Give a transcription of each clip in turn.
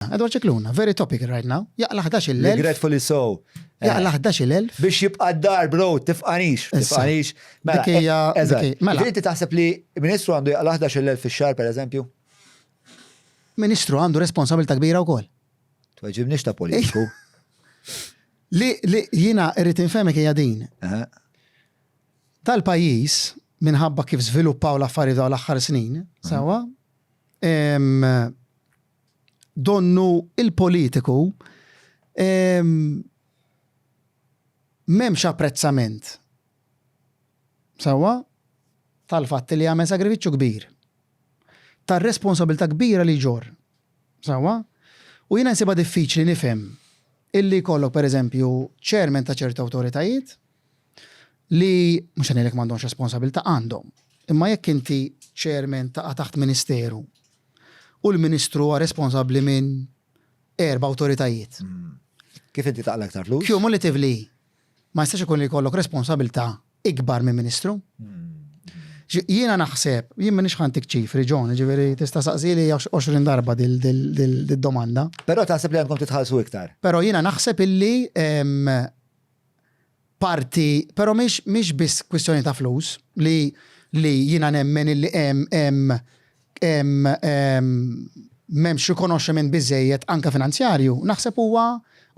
Scicluna, Edward Scicluna, very topical right now, jaqla' ħdax-il elf. Regretfully so. Jaqla' ħdax-il elf. Biex jibqa' d-dar, bro, tifqanix, tifqanix. Mela, eżatt. Mela. mela. Inti taħseb li ministru għandu jaqla' ħdax-il elf fix-xahar, per eżempju? Ministru għandu responsabilità kbira wkoll. Tweġibniex ta' politiku. Li jiena irrid infemek hija din. Tal-pajjiż minħabba kif żviluppaw l-affarijiet dawn l-aħħar snin, sawa, donnu il-politiku ehm, m'hemmx apprezzament. Sewwa tal-fatt li jagħmel sagrifiċċju kbir. Tar-responsabilità kbira li ġor. Sewwa? U jiena nsibha diffiċli nifhem illi jkollok pereżempju ċermen ta' ċertu awtoritajiet li mhux qed ngħidlek m'għandhomx responsabilità, għandhom. Imma jekk inti chairman taqa' taħt ministeru u l-ministru huwa responsabbli minn erba' awtoritajiet. Kif inti taqla aktar flus? Cumulatively, ma jistax ikun li jkollok responsabilità ikbar minn ministru. Jiena naħseb, jien minn xħantik ċifri, John, ġiviri, tista' saqsili 20 darba dil-domanda. Però taħseb li għandkom titħallsu iktar. Però jiena naħseb illi parti, però mhix mhix biss kwistjoni ta' flus li li jiena nemmen illi hemm hemm hemm m'hemmx rikonoxximent biżżejjed anke finanzjarju, naħseb huwa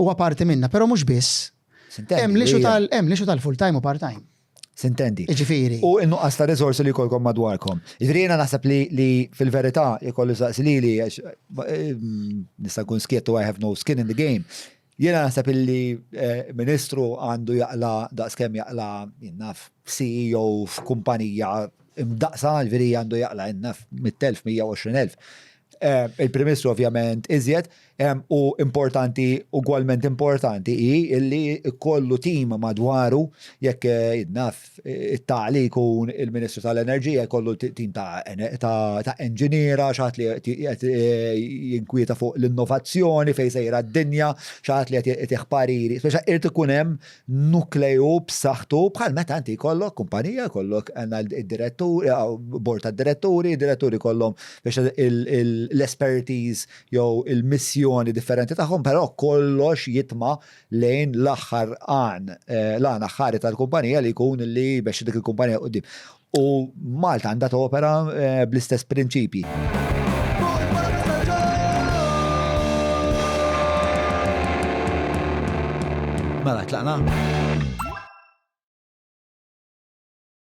huwa parti minnha, però mhux biss. S'intendi. Hemm l-issue tal hemm l-issue tal-full time u part time. S'intendi. Jiġifieri. U n-nuqqas ta' riżorsi li jkollkom madwarkom. Jiġifieri jiena naħseb li li fil-verità jekk kollu jsaqsi lili għax nista' nkun skiet u I have no skin in the game, Jiena naħseb illi ministru għandu jaqla daqskemm jaqla naf CEO f'kumpanija imdaqqsa, ġifieri għandu jaqla naf mitt elf, mija u għoxrin elf. Il-Prim Ministru ovvjament iżjed u importanti ugwalment importanti hi illi jkollu tim madwaru jekk naf ta' li jkun il-Ministru tal-Enerġija jkollu tim ta' enġiniera, xaħat li qed eh, jinkwieta fuq l-innovazzjoni fejn sejra d-dinja, xaħat li qed jagħtih pariri. Speċa irid ikun hemm nukleju b'saħħtu bħal meta inti jkollok kumpanija, jkollok id-direttur, eh, bord tad-diretturi, diretturi kollhom biex l-expertise jew il-missjoni differenti tagħhom, però kollox jitma' lejn l-aħħar għan, eh, l-għan aħħari tal-kumpanija li jkun li biex dik il-kumpanija qudiem. U Malta għandha topera eh, bl-istess prinċipji. Mela, tlaqna?